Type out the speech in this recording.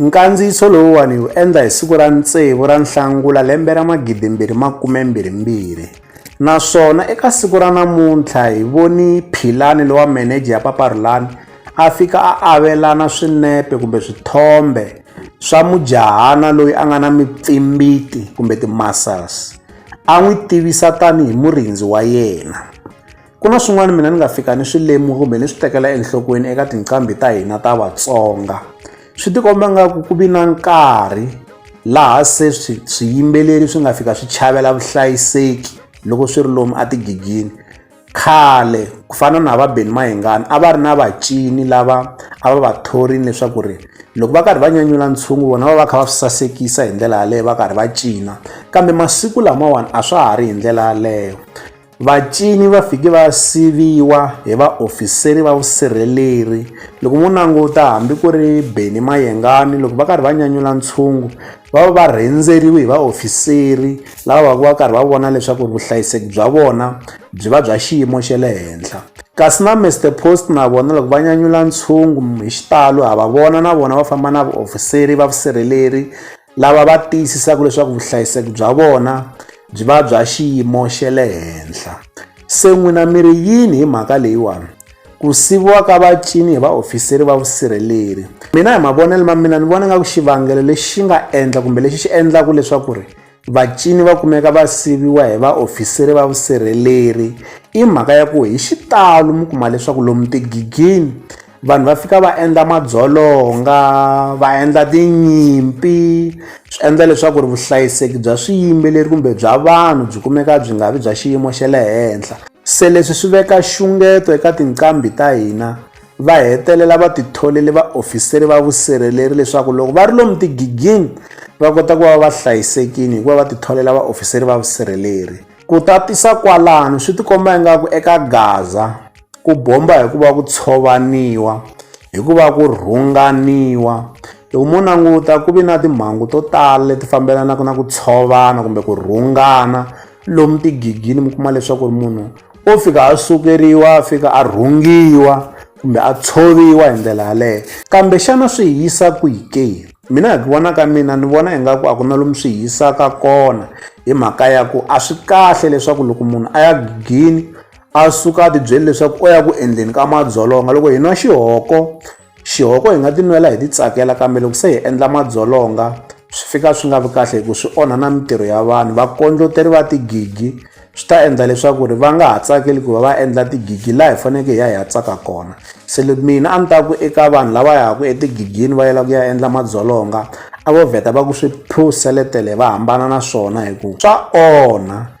Nkandziyiso lowuwani hi wu endla hi siku ra ntsevu ra Nhlangula lembe ra magidimbirhi makumembirhimbirhi naswona eka siku ra namuntlha hi voni Philani lowa meneja ya Paparhulani a fika a avelana swinepe kumbe swithombe swa mujahana loyi a nga na mipfimbiti kumbe ti-muscles a n'wi tivisa tanihi murindzi wa yena. Ku na swin'wana mina ni nga fika ni swi lemuka kumbe ni swi tekela enhlokweni eka tinqambi ta hina ta Vatsonga swi tikomba nga ku ku vi na nkarhi laha se swi swiyimbeleri swi nga fika swi chavela vuhlayiseki loko swi ri lomu a tigigini khale ku fana na va Benny Mayengani a va ri na vacini lava a va va thorini leswaku ri loko va karhi va nyanyula ntshungu vona va va kha va swi sasekisa hi ndlela yaleyo va karhi va cina kambe masiku lamawani a swa ha ri hi ndlela yaleyo Vacini va fike va siviwa hi vaofiseri va vusirheleri. Loko mo languta hambi ku ri Benny Mayengani loko va karhi va nyanyula ntshungu va va va rhendzeriwe hi vaofiseri lava va ku va karhi va vona leswaku ri vuhlayiseki bya vona byi va bya xiyimo xa le henhla. Kasi na Mister Post na vona loko va nyanyula ntshungu hi xitalo ha va vona na vona va famba na vaofiseri va vusirheleri lava va tiyisisaka leswaku vuhlayiseki bya vona byi va bya xiyimo xa le henhla se n'wina mi ri yini hi mhaka leyiwani ku siviwa ka vacini hi vaofiseri va vusirheleri mina hi mavonelo ma mina ni vona nga ku xivangelo lexi nga endla kumbe lexi xi endlaka leswaku ri vacini va kumeka va siviwa hi vaofiseri va vusirheleri i mhaka ya ku hi xitalo mi kuma leswaku lomu tigigini vanhu va fika va endla madzolonga va endla tinyimpi swi endla leswaku ri vuhlayiseki bya swiyimbeleri kumbe bya vanhu byi kumeka byi nga vi bya xiyimo xa le henhla se leswi swi veka xungeto eka tinqambi ta hina va hetelela va titholele vaofiseri va vusirheleri leswaku loko va ri lomu tigigini va kota ku va va hlayisekile hikuva va titholela vaofiseri va vusirheleri ku tatisa kwalano swi tikomba ingaku eka gaza Ku bomba hi ku va ku tshovaniwa, hi ku va ku rhunganiwa. Loko mo languta ku ve na timhangu to tala leti fambelanaka na ku tshovana kumbe ku rhungana lomu tigigini mi kuma leswaku ri munhu o fika a sukeriwa a fika a rhungiwa kumbe a tshoviwa hi ndlela yaleyo kambe xana swi hi yisa kwihi ke mina hi ku vona ka mina ni vona ingaku a ku na lomu swi hi yisaka kona hi mhaka ya ku a swi kahle leswaku loko munhu a ya gigini A suka a tibyele leswaku o ya ku endleni ka madzolonga. Loko hi nwa xihoko, xihoko hi nga tinwela hi titsakela kambe loko se hi endla madzolonga swi fika swi nga vi kahle hi ku swi onha na mintirho ya vanhu. Vakondloteri va tigigi swi ta endla leswaku ri va nga ha tsakeli ku va va endla tigigi laha hi faneleke hi ya hi ya tsaka kona se mina a ni ta ku eka vanhu lava yaka etigigini va yela ku ya endla madzolonga a vo vheta va ku swi phuseletele va hambana na swona hi ku swa onha